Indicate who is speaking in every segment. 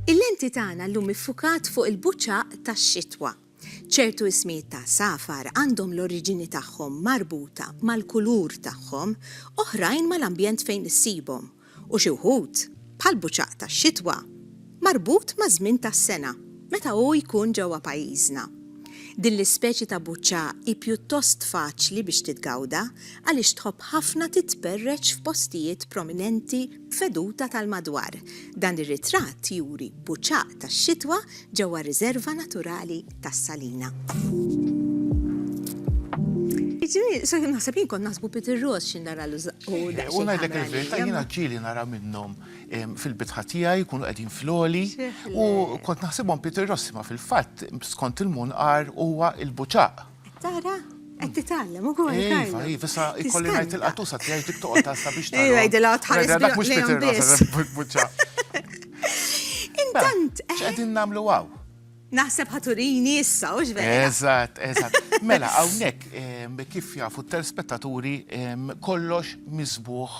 Speaker 1: Il-lenti tagħna llum iffukat fuq il-buċaq tax-xitwa. Ċertu ismijiet ta' għasafar għandhom l-oriġini tagħhom marbuta mal-kulur tagħhom, oħrajn mal-ambjent fejn issibhom, u xi wħud, bħall-buċaq tax-xitwa, marbut maż-żmien tas-sena meta hu jkun ġewwa pajjiżna. Din l-ispeċi ta' buċċaq hi pjuttost faċli biex titgawda għaliex tħobb ħafna titperreċ f'postijiet prominenti b'veduta tal-madwar, dan ir-ritratt juri buċaq tax-xitwa ġewwa riżerva naturali tas-Salina. Ġiri, so jim naħseb jien kon naħsbu Peter Ross xin nara l U
Speaker 2: najdlek il-verita jina ġili nara minnom fil-bitħa tijaj, kunu għedin floli. U kont naħsibom Peter Ross ma fil-fat skont il-mun għar huwa il-buċaq. Tara?
Speaker 1: Għed titallem u għu għu. Iva, iva, sa
Speaker 2: ikolli għajt il-qatusa tijaj tik toqta sa biex tara. Iva, id-dila tħalis bil-qatusa.
Speaker 1: Mux Peter Ross,
Speaker 2: buċaq. Intant.
Speaker 1: ċedin eh? namlu għaw.
Speaker 2: Naħseb ħa
Speaker 1: turini issa, hux vera? Eżatt, eżatt.
Speaker 2: Mela, hawnhekk kif jafu t-telespettaturi kollox miżbugħ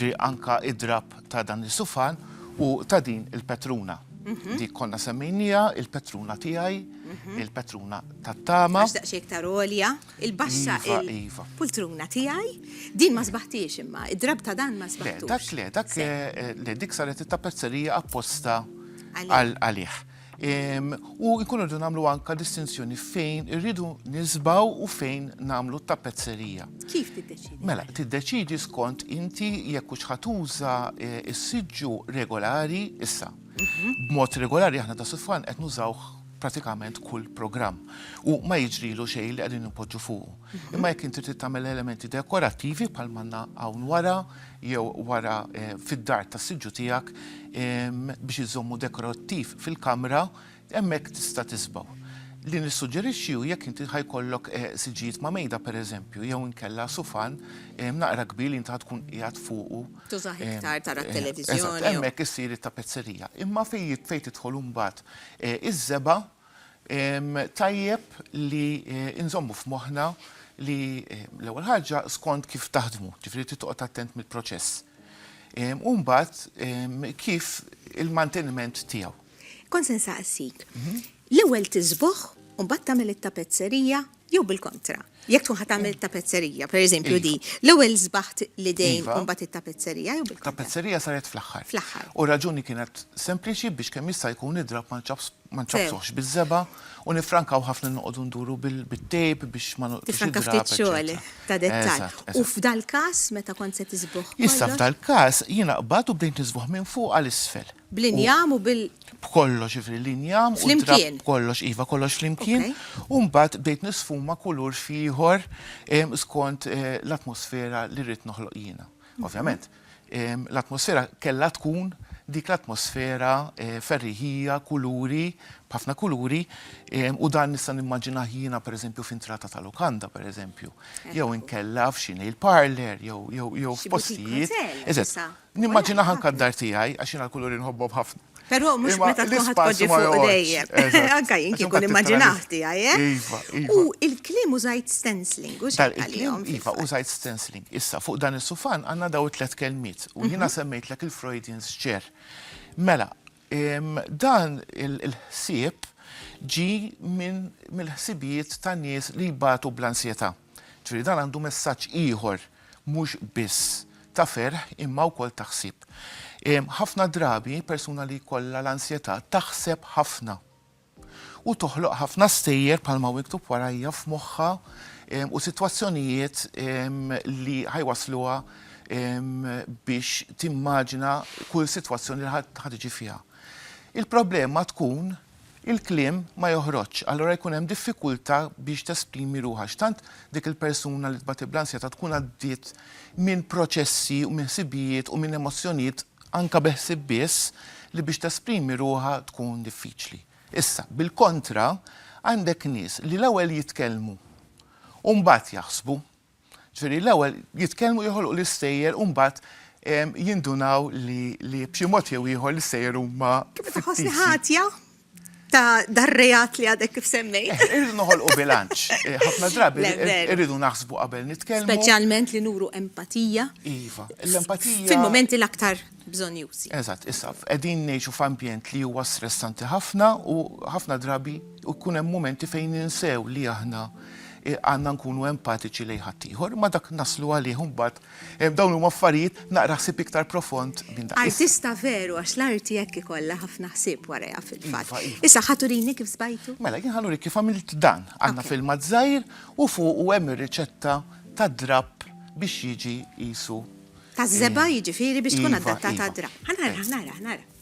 Speaker 2: ġi anka id-drapp ta' dan is-sufan u ta' din il-petruna. Mhm. Dik konna semmejnija, il-petruna tiegħi, mhm. il-petruna tat-tama. Għax daqsxejn iktar għolja,
Speaker 1: il-baxxa iva, iva. il-pultruna tiegħi, din ma sbaħtiex imma, id-drab ta' dan ma sbaħtux. Dak le, dak eh, eh, le
Speaker 2: dik saret it-tapezzerija apposta għalih. U jkun irridu nagħmlu anka distinzjoni fejn irridu nisbaw u fejn nagħmlu t-tappezzerija. Kif tiddeċidi?
Speaker 1: Mela, tiddeċidi
Speaker 2: skont inti jekk hux ħatuża eh, is-siġġu regolari issa. Mhm. B'mod regolari aħna ta' sufan qed nużaw pratikament kull programm u ma jiġrilu xej li qegħdin nipoġġu fuq. Mhm. Imma jekk inti trid tagħmel elementi dekorattivi bħal manna hawn wara, jew wara fid-dar tas-siġġu tiegħek biex iżżommu dekorattiv fil-kamra, hemmhekk tista' tisbaw. Li nissuġġerixxi hu jekk inti ħa jkollok siġġijiet ma' mejda pereżempju jew inkella sufan naqra kbir li inti ħa tkun qiegħed fuqu. Tużah iktar
Speaker 1: tara t-televiżjoni jew. Eżatt, hemmhekk issir
Speaker 2: it-tapezzerija. Imma fejn tidħol imbagħad iż-żebgħa, Tajjeb li nżommu f'moħħna li l-ewwel ħaġa skont kif taħdmu, ġifieri trid toqgħod attent mill-proċess. U mbagħad kif il-manteniment tiegħu. Kont se
Speaker 1: nsaqsik, l-ewwel tiżbugħ u mbagħad tagħmel it-tapezzerija Jew bil-kontra, jekk tkun ħadd tagħmel tapezzerija, pereżempju di, l-ewwel żbaħt l-idejn iva. u mbagħad it-tapezzerija jew bil-kontra. Tapezzerija saret fl-aħħar.
Speaker 2: Fl-aħħar. U raġuni
Speaker 1: kienet
Speaker 2: sempliċi biex kemm jista' jkun id-drab ma nċabsuħx biż-żeba u nifrankaw ħafna noqogħdu nduru bil-tejp biex ma noqgħodx id ftit xogħol
Speaker 1: ta' dettall. U f'dal-każ meta kont se tiżbuħ. Issa f'dal-każ
Speaker 2: jiena qbad u bdejt niżbuħ minn fuq għal isfel. Bl-injam u bil.
Speaker 1: B'kollox, jiġifieri
Speaker 2: l-injam. Flimkien. B'kollox, iva, kollox flimkien. U mbagħad bdejt nisfuma kulur xi ieħor skont l-atmosfera li rrid noħloq jiena. Ovvjament, l-atmosfera kellha tkun dik l-atmosfera ferriħija, kuluri, b'ħafna kuluri, u dan nista' nimmaġinah jiena pereżempju f'entrata ta' lukanda, pereżempju, jew inkella f'xi nail parlour, jew f'postijiet. Xi boutique hotel. Eżatt. Nimmaġinaha anke d-dar tiegħi għax jiena l-kuluri nħobbhom ħafna. Però mhux meta tkun ħadd
Speaker 1: tpoġġi fuq dejjem. Anke jien kieku nimmaġinah tiegħi, eh? Iva, iva. U l-kliem użajt stencling, u x'għedt għalihom? Iva, użajt
Speaker 2: stencling. Issa, fuq dan is-sufan għandna dawn it-tliet kelmiet u jiena semmejtlek il-Freudian x'ġer. Mela, Dan il-ħsieb ġie mill-ħsibijiet ta' nies li jbatu bl-ansjetà. Ġifieri dan għandu messaġġ ieħor mhux biss ta' ferħ imma wkoll ta' ħsieb. Ħafna drabi persuna li jkollha l-ansjetà taħseb ħafna. u toħloq ħafna stejjer bħalma hu miktub warajja f'moħħha u sitwazzjonijiet li ħa jwassluha biex timmaġina kull sitwazzjoni li ħa tiġi fiha. Il-problema tkun il-kliem ma joħroġx, allura jkun hemm diffikultà biex tesprimi ruħha. X'tant dik il-persuna li tbati bl-ansjetà tkun għaddiet minn proċessi u minn ħsibijiet u minn emozzjonijiet Anke bi ħsieb biss li biex tesprimi ruħha tkun diffiċli. Issa, bil-kontra, għandek nies li l-ewwel jitkellmu u mbagħad jaħsbu. Ġifieri l-ewwel jitkellmu joħolqu l-istejjer u mbagħad jindunaw li
Speaker 1: b'xi mod
Speaker 2: jew ieħor l-istejjer huma fittizji. Tħossni ħatja? ta'
Speaker 1: dar-reat li għadek kif semmejt. Eh, irridu noħolqu bilanċ.
Speaker 2: Eh, ħafna drabi irridu naħsbu
Speaker 1: qabel
Speaker 2: nitkellmu. Speċjalment li nuru
Speaker 1: empatija. Iva,
Speaker 2: l-empatija. Fil-momenti l-aktar
Speaker 1: bżonjużi. Eżatt, issa,
Speaker 2: qegħdin ngħixu f'ambjent li huwa stressanti ħafna u ħafna drabi u kun hemm momenti fejn ninsew li aħna eh, għandna nkunu empatiċi lejn ħaddieħor, ma dak naslu għalih mbagħad Dawn huma affarijiet naqra ħsieb iktar profond minn dan. Artista veru għax
Speaker 1: l-arti hekk ikollha ħafna ħsieb warajha fil-fatt. Issa ħa turini
Speaker 2: kif sbajtu?
Speaker 1: Mela jien ħa nurik kif għamilt
Speaker 2: dan. Għandna filmat żgħir u fuqu hemm ir-riċetta tad-drapp biex jiġi qisu. Taż-żebgħa
Speaker 1: jiġifieri biex tkun adattata għad-drapp. Ħa nara,
Speaker 2: ħa nara,
Speaker 1: ħa nara.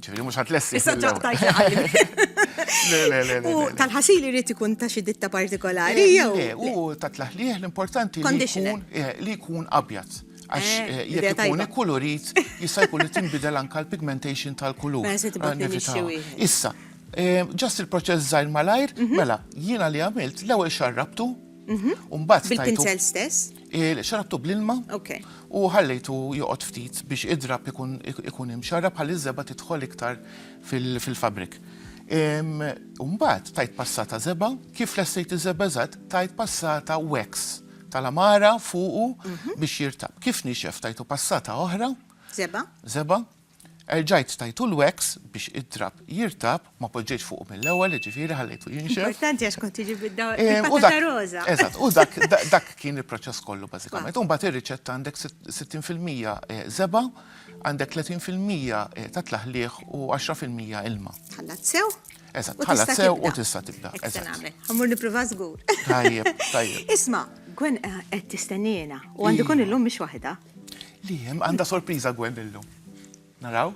Speaker 2: ċifiri mux ħat lessi. Issa
Speaker 1: ġaqtajt
Speaker 2: U tal-ħasil
Speaker 1: irrit ikun ta' xi ditta partikolari eh, jew. Eh, u ta' tlaħliħ
Speaker 2: l-importanti li jkun eh,
Speaker 1: li jkun
Speaker 2: abjad. Għax jekk ikun
Speaker 1: ikkulurit jista'
Speaker 2: jkun li tinbidel anka l-pigmentation tal-kulur.
Speaker 1: Issa,
Speaker 2: ġast il-proċess żgħir malajr, mhm. mela jiena li għamilt l-ewwel xarrabtu, mhm. u mbagħad. Bil-pincel stess?
Speaker 1: Xarabtu bl-ilma
Speaker 2: u
Speaker 1: ħallejtu
Speaker 2: joqgħod ftit biex idrab ikun imxarrab ħalli ż-żebgħa tidħol iktar fil-fabrik. U mbagħad tajt passata żebgħa, kif lessejt iż-żebgħa eżatt, tajt passata wax tal-għamara fuqu biex jirtab. Kif nixef tajtu passata oħra. Żebgħa. Żebgħa. Erġajt stajtu l-wax biex id-drapp jirtab, ma poġġejtx fuqu mill-ewwel, jiġifieri ħallejtu jinxef. Importanti għax kont tiġi
Speaker 1: bil-patata roża. Eżatt,
Speaker 2: u dak kien il-proċess kollu bażikament. U mbagħad ir-riċetta għandek 60% żebgħa, għandek 30% ta' tlaħliħ u 10% ilma. Tħallat sew.
Speaker 1: Eżatt, tħallat sew u
Speaker 2: tista' tibda. Eżatt. Għamur
Speaker 1: nipprova żgur. Tajjeb, tajjeb.
Speaker 2: Isma, Gwen
Speaker 1: eh, qed tistennina u għandu kun illum mhix waħda. Li hemm
Speaker 2: għandha sorpriża Gwen illum. Naraw?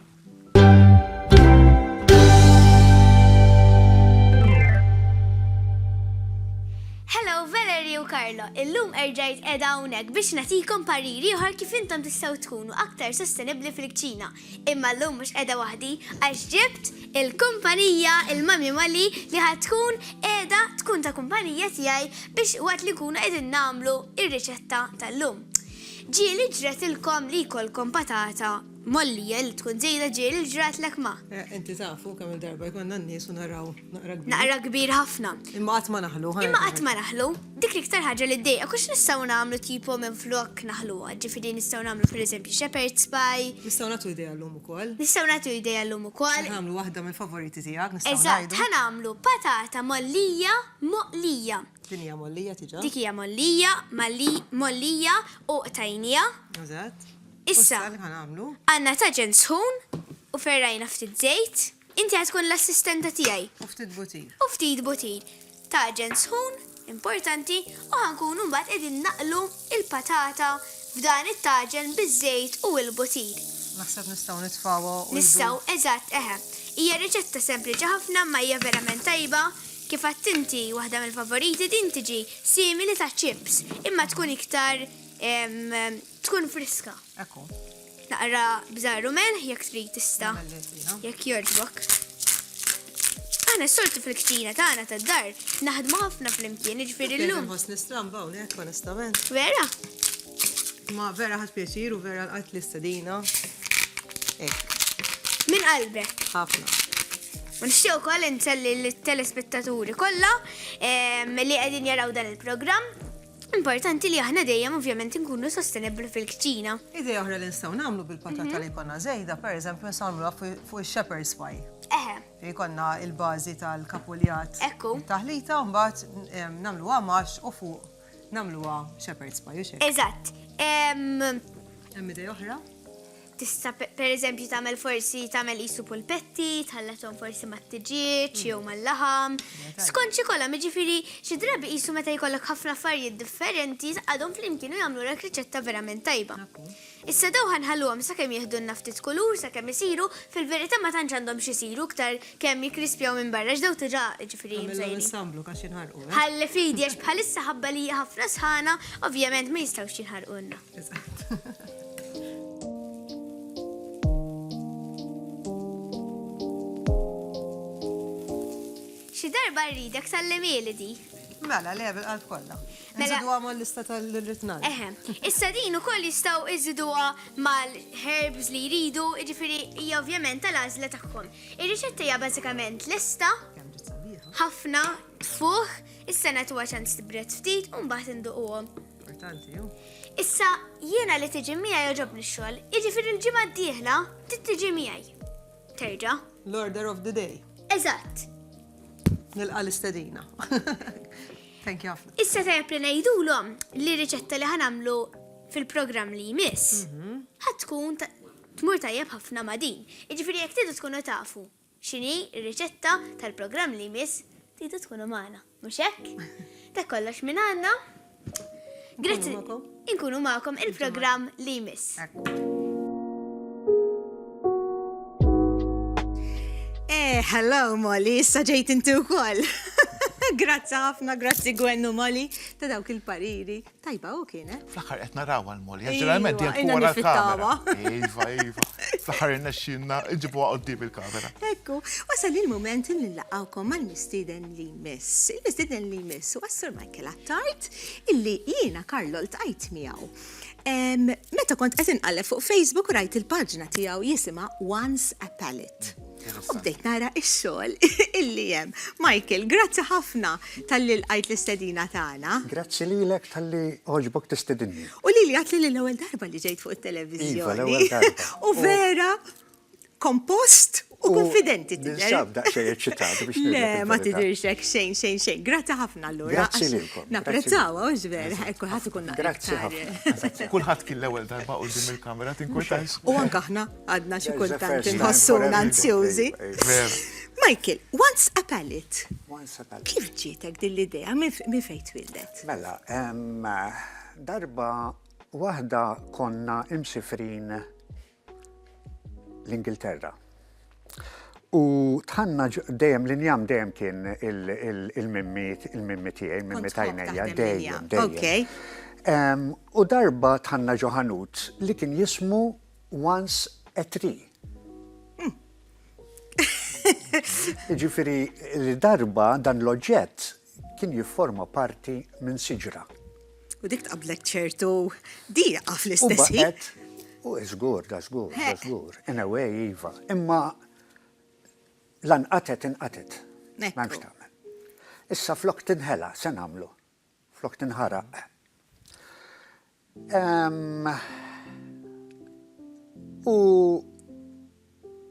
Speaker 3: Hello Valerie u Carlo, illum erġajt edha hawnhekk biex natikom pariri uħar kif intom tistgħu tkunu aktar sostenibbli fil-kċina. Imma llum mhux qiegħda waħdi għax ġibt il-kumpanija, il-Mummy Molly, li ħa tkun qiegħda tkun ta' kumpanija tiegħi biex waqt li nkunu qegħdin nagħmlu r-riċetta tal-lum. Ġieli ġratilkom li jkollkom patata mollija li tkun żejda ġieli ġratlek ma. Inti taf, hu kemm-il
Speaker 4: darba jkollna n-nies u naraw. Naqra kbir ħafna.
Speaker 3: Imma qatt ma naħlu.
Speaker 4: Imma qatt ma naħlu.
Speaker 3: Dik l-iktar ħaġa li ddejqa kux nistgħu nagħmlu tipo minn flok naħluha, ġifieri nistgħu nagħmlu pereżempju shepherd's pie. Nistgħu nagħtu idea llum
Speaker 4: ukoll. Nistgħu nagħtu idea llum
Speaker 3: ukoll. Nagħmlu waħda mill-favoriti
Speaker 4: tiegħek nistgħu ngħidu. Eżatt, ħa nagħmlu patata
Speaker 3: mollija moqlija. Din hija mollija
Speaker 4: diġà. Dik hija mollija,
Speaker 3: mollija u qtajnija. Eżatt. Issa.
Speaker 4: Issa li ħa
Speaker 3: nagħmlu.
Speaker 4: Għandna taġen
Speaker 3: sħun u ferrajna ftit żejt. Inti ħa tkun l-assistenta tiegħi. U ftit butir. U
Speaker 4: ftit butir.
Speaker 3: Taġen sħun, importanti, u ħa nkunu mbagħad qegħdin naqlu l-patata f'dan it-taġen biż-żejt u l-butir. Naħseb nistgħu
Speaker 4: nitfgħuha u. Nistgħu, eżatt, eħe.
Speaker 3: Hija riċetta sempliċi ħafna imma hija verament tajba. Kif għedt inti, waħda mill-favoriti din tiġi simili ta' chips, imma tkun iktar, ehm, tkun friska. Ekku.
Speaker 4: Naqra
Speaker 3: bżar u melħ jekk trid tista'. Jekk
Speaker 4: jogħġbok.
Speaker 3: Aħna s-soltu fil-ktina tagħna tad-dar naħdmu ħafna flimkien, jiġifieri llum. Nħoss nistramba hawnhekk
Speaker 4: onestament. Vera? Ma vera ħadd pjaċir u vera l-qatt l-istedina. Min qalbek?
Speaker 3: Ħafna. U nixtieq ukoll inselli l-telespettaturi kollha ehm, li qegħdin jaraw dan il-programm Importanti li aħna dejjem ovvjament inkunu sostenibbli fil-kċina. Idea oħra li nistgħu
Speaker 4: nagħmlu bil-patata li jkollna żejda, pereżempju nistgħu nagħmluha fuq ix-shepherd's pie. Eħe. Fejn jkollna l-bażi tal-kapuljat. Ekku. Taħlita
Speaker 3: u mbagħad
Speaker 4: em, nagħmluha max u fuq nagħmluha shepherd's pie, u xejn. Eżatt. Em, Hemm idea oħra? Tista'
Speaker 3: pereżempju tagħmel forsi tagħmel qisu pulpetti, tħallethom forsi mat-tiġieġ jew mal-laħam. Skont xi kolam, jiġifieri xi drabi qisu meta jkollok ħafna affarijiet differenti tqagħadhom flimkien u jagħmlulek riċetta verament tajba. Issa dawn ħa nħalluhom sakemm jiħdulna ftit kulur sakemm isiru, fil-verità ma tantx għandhom x'isiru iktar kemm jikkrispjaw minn barra għax dawn diġà jiġifieri mżejnin.
Speaker 4: Ħalli f'idi għax
Speaker 3: bħalissa ħabba li hija ħafna sħana ovvjament ma jistgħux jinħarqulna. Xi darba rridek sallimili di. Mela, le, bil-qalb
Speaker 4: kollha. Mela- Nżidu għamol
Speaker 3: lista
Speaker 4: tal-ritnal. Eħe, issa din
Speaker 3: u koll jistaw iżiduwa mal-herbs li jridu, ġifiri, hija ovvjament tal-azla tagħhom. Ir-riċetta hija bażikament lista, Kemm ġiet sabiħa.
Speaker 4: ħafna,
Speaker 3: tfuħ, issa nagħtuha ċans tibret ftit u mbagħad induquhom.
Speaker 4: Issa,
Speaker 3: jiena li tiġi miegħi joġobni x-xogħol, jiġifieri l-ġimgħa d-dieħla trid tiġi miegħi. Terġa'. L-order of the
Speaker 4: day. Eżatt. Nilqa' l-istedina. Thank you ħafna. Issa tajjeb li ngħidulhom
Speaker 3: li riċetta li ħanamlu fil-programm li jmiss mhm. ħad tkun tmur tajjeb ħafna ma' din. Jiġifieri jekk tidu tkunu tafu X'inhi r-riċetta tal-programm li jmiss? Tridu tkunu magħna, mhux hekk? Dak kollox minn għandna. Grazzi. Inkunu magħkom. Inkunu
Speaker 4: magħkom
Speaker 3: il-programm li jmiss.
Speaker 1: Eh, hello Molly, issa ġejt inti wkoll. Grazzi ħafna, grazzi Gwennu Molly ta' dawk il-pariri. Tajba hu kien, eh? Fl-aħħar qed narawha l-Molly,
Speaker 2: ġeneralment dejjem tkun wara l-kamera. Iva, iva.
Speaker 1: Fl-aħħar
Speaker 2: irnexxinna nġibuha qudiem il-kamera. Ekku, wasal
Speaker 1: il-mument li nlaqgħukom mal-mistieden li miss. Il-mistieden li miss u għassur Michael Attard illi jiena Karlo ltqajt miegħu. Meta kont qed inqalleb fuq Facebook rajt il-paġna tiegħu jisimha Once a Palette. U bdejt nara x-xogħol illi hemm. Michael, grazzi ħafna tal-li l-għajt l-istedina tagħna. Grazzi lilek
Speaker 5: tal-li oġbok tistedinni. U li li għat li l-ewwel
Speaker 1: darba li ġejt fuq it-televiżjoni. Iva, l-ewwel darba.
Speaker 5: U vera
Speaker 1: kompost u konfidenti tidher. Nisab daqsxejn eċċitat
Speaker 5: biex Le, ma tidhirx hekk xejn
Speaker 1: xejn
Speaker 5: xejn.
Speaker 1: Grazzi ħafna allura. Grazzi lilkom. Napprezzaw
Speaker 5: u ġver,
Speaker 1: kulħadd ikun Grazzi ħafna.
Speaker 5: Kulħadd kien l-ewwel
Speaker 2: darba qudiem il-kamera tinkwetax. U anke aħna.
Speaker 1: Għadna xi kultant inħossuna
Speaker 5: anzjużi. Michael,
Speaker 2: once
Speaker 1: a pallet. Kif
Speaker 5: ġietek din l-idea
Speaker 1: minn fejn twildet? Mela,
Speaker 5: darba waħda konna imsifrin l-Ingilterra. U tħanna dejjem l-injam dejjem kien il-mimmi il-mimmi tiegħi, mimmi tajnejja, dejjem, dejjem. U darba tħanna ġoħanut li kien jismu once a tree. Jiġifieri li darba dan l-oġġett kien jifforma parti minn siġra. U dik
Speaker 1: tqablek ċertu diqa fl-istess ħin. U
Speaker 5: żgur, da żgur, da żgur. In a way, iva. Imma lanqatet inqatet. M'hemmx tagħmel. Issa flok tinħela se nagħmlu. Flok tinħaraq. U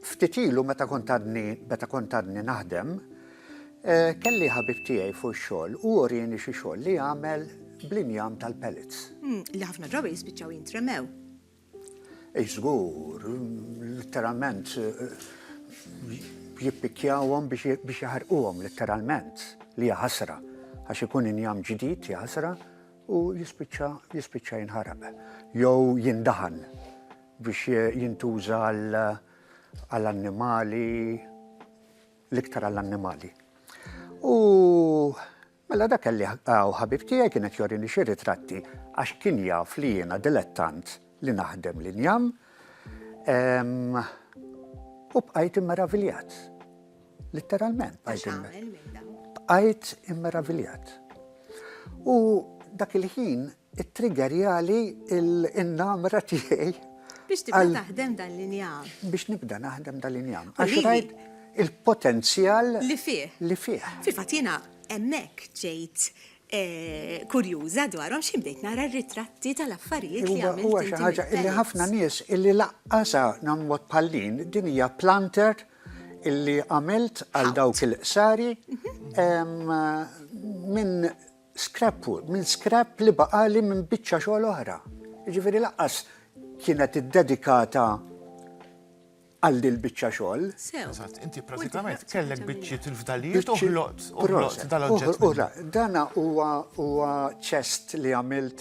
Speaker 5: ftit ilu meta kont għadni meta kont għadni naħdem, kelli ħabib tiegħi fuq ix-xogħol u urieni xi xogħol li għamel bl-injam tal-pellets. Li ħafna drabi
Speaker 1: jispiċċaw jintremew. Ej żgur,
Speaker 5: litteralment jippikkjawhom biex jaħarquhom litteralment, li hija ħasra għax ikun injam ġdid, hija ħasra. u jispiċċa jispiċċa jinħaraq jew jindaħan biex jintuża għal annimali l-iktar għall annimali. U Mela dak kelli għaw ħabib tiegħi kienet jorini xi ritratti għax kien jaf li jiena dilettant li naħdem li njam. U bqajt immeraviljat. Litteralment, bajt Bqajt immeraviljat. U dak il-ħin, it-trigger jali il-namra tiegħi.
Speaker 1: Biex tibda
Speaker 5: naħdem
Speaker 1: dan l-injam. Biex
Speaker 5: nibda naħdem dan
Speaker 1: l-injam.
Speaker 5: Għax rajt
Speaker 1: il-potenzjal.
Speaker 5: Li fih. Li fih.
Speaker 1: Fil-fat
Speaker 5: jena
Speaker 1: emmek ġejt eh, kurjuża dwarhom xi bdejt nara r-ritratti tal-affarijiet li għamilt. Huwa xi ħaġa illi ħafna
Speaker 5: nies illi laqqasa nagħmlu bħallin din hija planter illi għamilt għal dawk il-qsari minn scrap wood, minn scrap li baqali minn biċċa xogħol oħra. Ġifieri laqqas kienet iddedikata għal dil biċċa xogħol. Eżatt, inti
Speaker 2: pratikament kellek biċċiet il-fdalijiet u ħloqt dal-oġġett. Dana
Speaker 5: huwa ċest li għamilt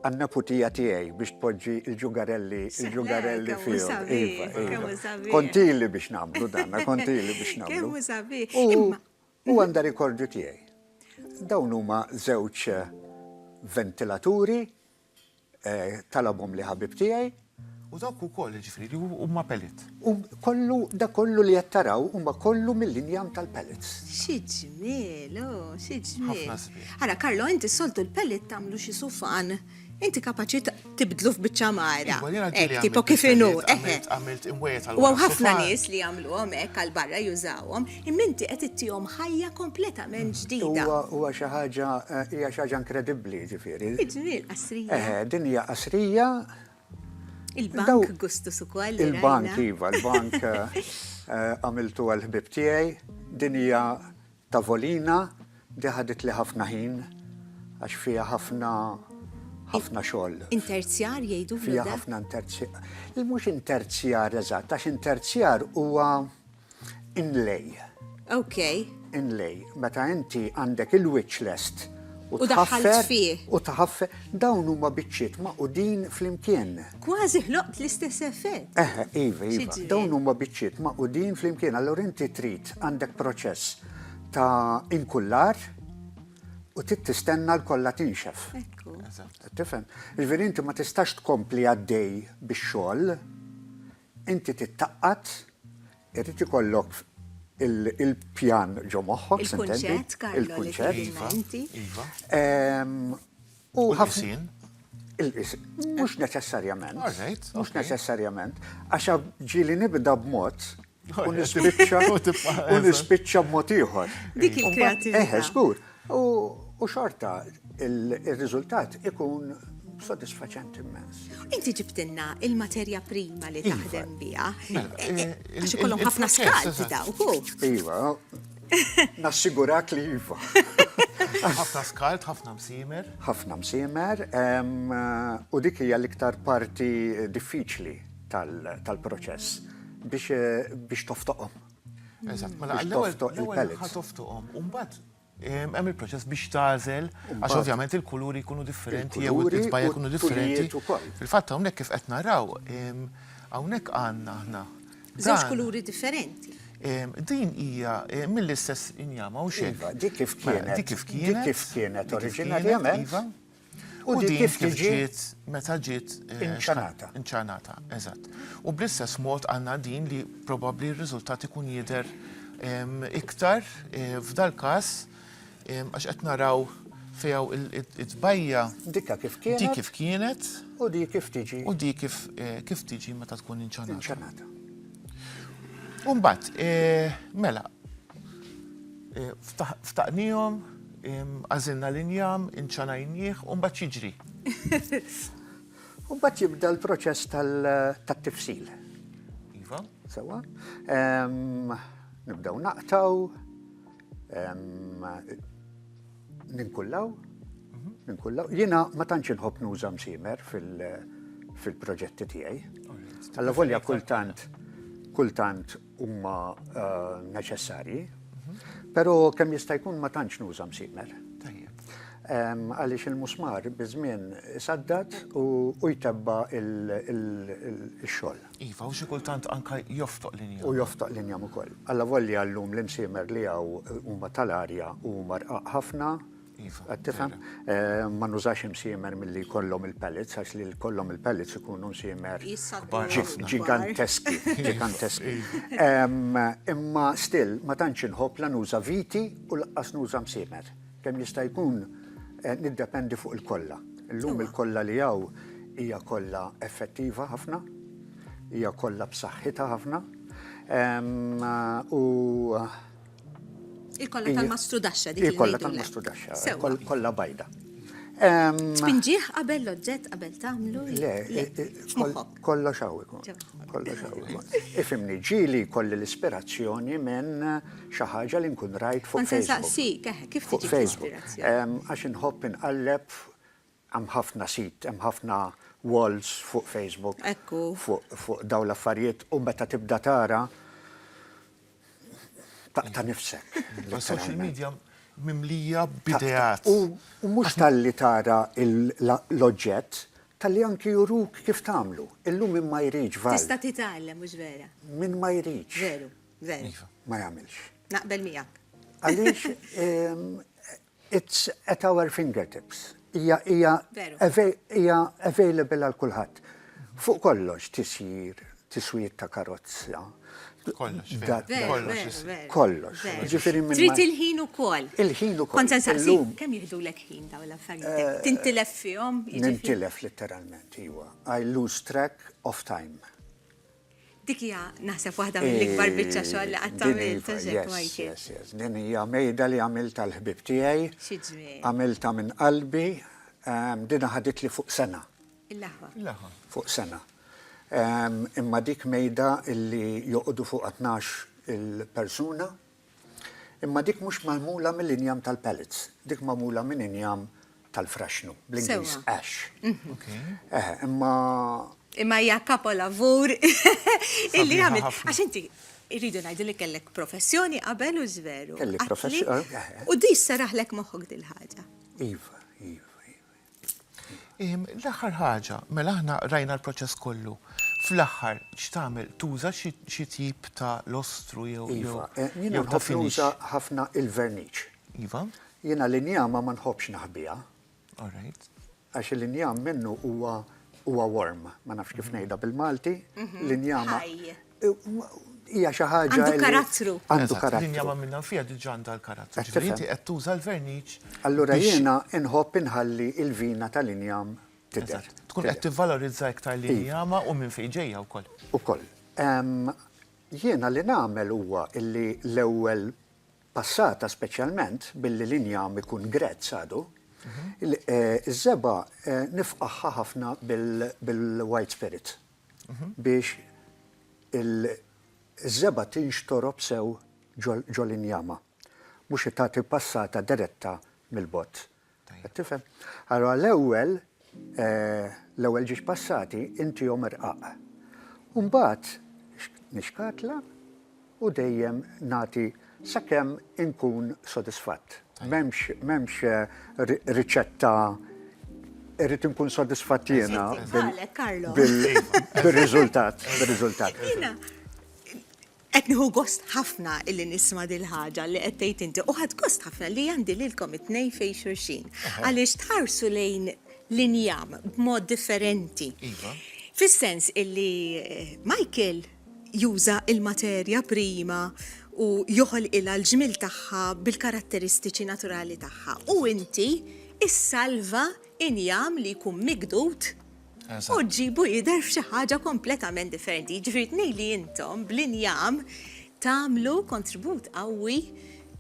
Speaker 5: għan-neputija tiegħi biex tpoġġi l-ġugarelli l-ġugarelli fihom. Iva, iva. Kontili biex nagħmlu dan, kontili biex nagħmlu. U għandha rikordju tiegħi. Dawn huma żewġ ventilaturi eh, talabhom li ħabib tiegħi. U dawk ukoll,
Speaker 2: jiġifieri, li huma pellet. U kollu, dak
Speaker 5: kollu li qed taraw huma kollu mill-injam tal-pellets. Xi ġmiel,
Speaker 1: o, xi ġmiel. Ħafna sbieħ. Ara, Carlo,
Speaker 2: inti s-soltu
Speaker 1: l-pellet tagħmlu xi sufan. Inti kapaċi tibdlu f'biċċa mara. Iva, jiena ġieli għamilt. Tipo kif inhu, eħe. Għamilt imwejjed
Speaker 2: għal. U hawn ħafna nies
Speaker 1: li jagħmluhom hekk għal barra jużawhom, imma inti qed ittihom ħajja kompletament ġdida. Huwa, huwa xi ħaġa,
Speaker 5: hija xi ħaġa inkredibbli, jiġifieri. Xi ġmiel, qasrija.
Speaker 1: Eħe, din hija qasrija Il-bank gustus ukoll. Il-bank iva,
Speaker 5: il-bank eh, għamiltu għal-ħbib tiegħi, din hija tavolina di ħadit li ħafna ħin għax fija ħafna ħafna xogħol. Interzjar
Speaker 1: jgħidu fija ħafna
Speaker 5: interzjar. Il-mhux interzjar eżatt, għax interzjar huwa Inlay. Ok.
Speaker 1: Inlay.
Speaker 5: Meta inti għandek il-wiċċ lest u tħaffer
Speaker 1: u tħaffer
Speaker 5: dawn huma biċċiet maqudin flimkien. Kważi ħloqt
Speaker 1: l-istess effett. Eh, iva, iva.
Speaker 5: Dawn huma biċċiet maqudin flimkien, allura inti trid għandek proċess ta' inkullar u trid tistenna l-kollha tinxef. Ekku.
Speaker 1: Tifhem.
Speaker 5: Ġifieri inti ma tistax tkompli għaddej bix-xogħol Inti titgħaqqad, irid ikollok il-pjan ġo moħħok, s'intendi?
Speaker 1: Il-kunċett, Carlo, li tgħidilna inti. Iva.
Speaker 2: U ħafna. Il-qisien.
Speaker 5: Mhux neċessarjament. All right. Mhux
Speaker 2: neċessarjament.
Speaker 5: Għax ġieli nibda b'mod u nispiċċa b'mod ieħor. Dik il-kreattività.
Speaker 1: Eħe, żgur.
Speaker 5: U xorta il-riżultat ikun sodisfaċenti immens. Inti ġibtilna
Speaker 1: il-materja prima li iva. taħdem biha. Mela, eh, eh, eh, għax ikollhom ħafna skalt dawk. Iva,
Speaker 5: nassigurak li iva. Ħafna
Speaker 2: skalt, ħafna msimer. Ħafna msimer,
Speaker 5: u dik hija l-iktar parti diffiċli tal-proċess biex toftoqhom. Eżatt, mela
Speaker 2: l-ewwel ħatoftuqhom u mbagħad hemm il-proċess biex tażel għax ovvjament il-kuluri jkunu differenti jew it-tbajja jkunu differenti. Fil-fatt hawnhekk kif qed naraw hawnhekk għandna aħna. Żewġ kuluri
Speaker 1: differenti. Din
Speaker 2: hija mill-istess injama u xejn. Dik kif kienet. Dik
Speaker 5: kif kienet. Dik kif
Speaker 2: kienet oriġinarjament.
Speaker 5: U
Speaker 2: din kif ġiet meta ġiet eh, inċanata. Inċanata,
Speaker 5: eżatt.
Speaker 2: U bl-istess mod għandna din li probabbli r-riżultat ikun jidher iktar eh, f'dal każ għax qed naraw fejaw it-tbajja. Dikka kif
Speaker 5: kienet. Dik kif kienet. U di kif tiġi. U di kif eh,
Speaker 2: kif tiġi meta tkun inċanata. Inċanata.
Speaker 5: Umbat,
Speaker 2: mela, Ftaqnihom, għażilna l-injam, inċanajnieh u mbagħad jiġri. U
Speaker 5: mbagħad jibda l-proċess tat-tifsil. Iva.
Speaker 2: Sewwa.
Speaker 5: Nibdew naqtaw, ninkullaw, mhm. ninkullaw. Jiena ma tantx inħobb nuża msimer fil-proġetti tiegħi. Alla volja kultant kultant huma neċessarji, però kemm jista' jkun ma tantx nuża msimer. Għaliex il-musmar biż-żmien isaddat u jtebba il-xogħol. Iva, u xi
Speaker 2: kultant anke joftoq l-injam. U joftoq l-injam ukoll.
Speaker 5: Alla volja llum l-imsiemer li hawn huma tal-arja u huma rqaq ħafna, Iva. Qed tifhem? Ma nużax imsiemer milli jkollhom il-pellets għax li jkollhom il-pellets ikunu msiemer ġiganteski, ġiganteski. Imma still ma tantx inħobb la nuża viti u lanqas nuża msiemer. Kemm jista' jkun niddependi fuq il-kolla. Illum il-kolla li hawn hija kolla effettiva ħafna, hija kolla b'saħħitha ħafna u
Speaker 1: Il-kolla tal-mastrudaxxa dik il-kolla tal-mastrudaxxa.
Speaker 5: Sewa. Kolla bajda.
Speaker 1: Tpinġieħ qabel l-oġġett qabel tagħmlu? Le,
Speaker 5: kollha xaw ikun. Kollha xaw ikun. Ifimni ġili kolli l-ispirazzjoni minn xi ħaġa li nkun rajt fuq Facebook. Saqsi, kif tiġi
Speaker 1: l-ispirazzjoni?
Speaker 5: Għax
Speaker 1: inħobb
Speaker 5: inqalleb Hemm ħafna sit, hemm ħafna walls fuq Facebook. Ekku.
Speaker 1: Fuq dawn
Speaker 5: l-affarijiet u meta tibda tara taqta' nifsek. Is-social media
Speaker 2: mimlija b'ideat. U mhux
Speaker 5: talli tara l-oġġett, talli anki juruk kif tagħmlu. Illum min ma jridx vall. Tista' titgħallem, mhux
Speaker 1: vera? Min ma jridx.
Speaker 5: Veru, veru.
Speaker 1: Ma jagħmilx.
Speaker 5: Naqbel miegħek.
Speaker 1: Għaliex
Speaker 5: It's at our fingertips. Hija hija hija available għal kulħadd. Fuq kollox tisjir, tiswir ta' karozza. Kollox. Kollox. Kollox. Ġifieri minn. Trid
Speaker 1: il-ħin ukoll. Il-ħin ukoll. Kont se
Speaker 5: nsaqsi kemm
Speaker 1: jieħdulek ħin dawn l-affarijiet. Tintilef fihom? Nintilef
Speaker 5: litteralment, iwa. I lose track of time.
Speaker 1: Dik hija naħseb waħda mill-ikbar biċċa xogħol li qatt għamilt, għax hekk Michael. Yes, yes, yes. Din hija
Speaker 5: mejda li għamilt għall-ħbieb tiegħi. Xi ġmiel. Għamiltha
Speaker 1: minn qalbi,
Speaker 5: ehm, din ħaditli fuq sena. Il-laħwa. Il-laħwa.
Speaker 1: Fuq sena.
Speaker 5: Ehm, imma dik mejda illi joqogħdu fuq 12 il-persuna, Imma dik mhux magħmula mill-injam tal-pellets, dik magħmula minn injam tal-fraxnu, bl-Ingliż ash. Eh, imma.
Speaker 1: Imma hija kapolavur illi għamil. Għax inti irridu ngħidu li kellek professjoni qabel u żveru. Kelli professjoni. Eh, eh.
Speaker 5: U di saraħlek
Speaker 1: moħħok dil-ħaġa. Iva,
Speaker 5: iva, iva.
Speaker 2: L-aħħar ħaġa, mela aħna rajna l-proċess kollu. Fl-aħħar x'tagħmel? Tuża xi tip ta' lostru jew ta' finish? Iva, jiena nħobb
Speaker 5: nuża ħafna il-verniċ. Iva.
Speaker 2: Jiena l-injama
Speaker 5: ma nħobbx naħbiha. All right.
Speaker 2: Għax il-injam
Speaker 5: minnu huwa warm, ma nafx kif ngħidha bil-Malti, l-injama. Ħaj. hija xi ħaġa. Għandu karattru. Għandu
Speaker 1: karattru. Linja ma'
Speaker 5: minnha fiha diġà
Speaker 2: għandha l-karattru. Ġifieri inti qed tuża l-verniċ. Allura jiena
Speaker 5: inħobb inħalli l-vina tal-injam tidher. Tkun qed tivvalorizza
Speaker 2: iktar l-injama u minn fejn ġejja wkoll. Ukoll.
Speaker 5: Jiena li nagħmel huwa li l-ewwel passata speċjalment billi l-injam ikun grezz għadu, iż-żebgħa nifqagħha ħafna bil-white spirit. biex iż-żebgħa tinxtorob sew ġol-injama, mhux li tagħti passata diretta mill-bozz. Qed tifhem? Allura l-ewwel, l-ewwel ġiex passati intihom irqaq. U mbagħad nixkatla. u dejjem nagħti sakemm inkun sodisfatt. M'hemmx m'hemmx riċetta irrid inkun sodisfatt jiena bir-riżultat, bir-riżultat.
Speaker 1: Qed nieħu gost ħafna illi nisma' din il-ħaġa li qed tgħid inti u ħadt gost ħafna li għandi lilkom it-tnejn fejn xulxin għaliex tħarsu lejn l-injam b'mod differenti. Fis-sens illi Michael juża l-materja prima u joħolqilha l-ġmiel tagħha bil-karatteristiċi naturali tagħha. U inti ssalva injam li jkun migdud u ġġibu jidher f'xi ħaġa kompletament differenti. Jiġifieri tnej li intom bl-injam tagħmlu kontribut qawwi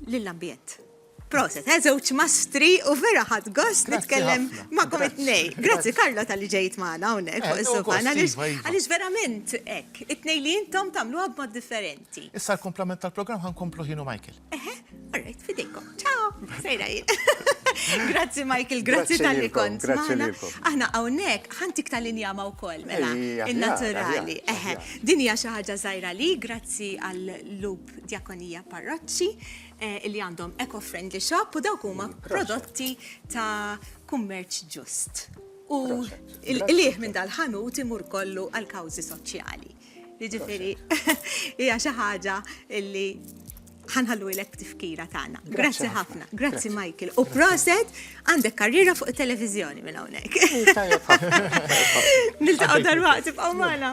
Speaker 1: lill-ambjent. Proset, eh, żewġ mastri u vera ħadd gost nitkellem magħkom it-tnej. Grazzi Karlo tal-li ġejt magħna hawnhekk eh, fuq is-sofan għaliex verament hekk, it-tnej li intom tagħmluha b'mod differenti. Issa l-komplement
Speaker 2: tal-programm ħankomplu ħinu Michael. Eħe, alright,
Speaker 1: fidejkom. Ciao, sejra Grazzi Michael, grazzi tal-li kont. Aħna hawnhekk ħantik tal-injama wkoll mela in-naturali. Eħe, din hija xi ħaġa żgħira li grazzi għal lub djakonija parroċċi. eh, li għandhom eco-friendly shop u dawk huma prodotti ta' kummerċ ġust. U l-liħ minn dal-ħanut imur kollu għal kawzi soċjali. Jiġifieri hija xi ħaġa li ħanħallu ilek tifkira tagħna. Grazzi ħafna, grazzi Michael. U proset għandek karriera fuq it-televiżjoni minn hawnhekk. Niltaqgħu darwaqt tibqgħu magħna.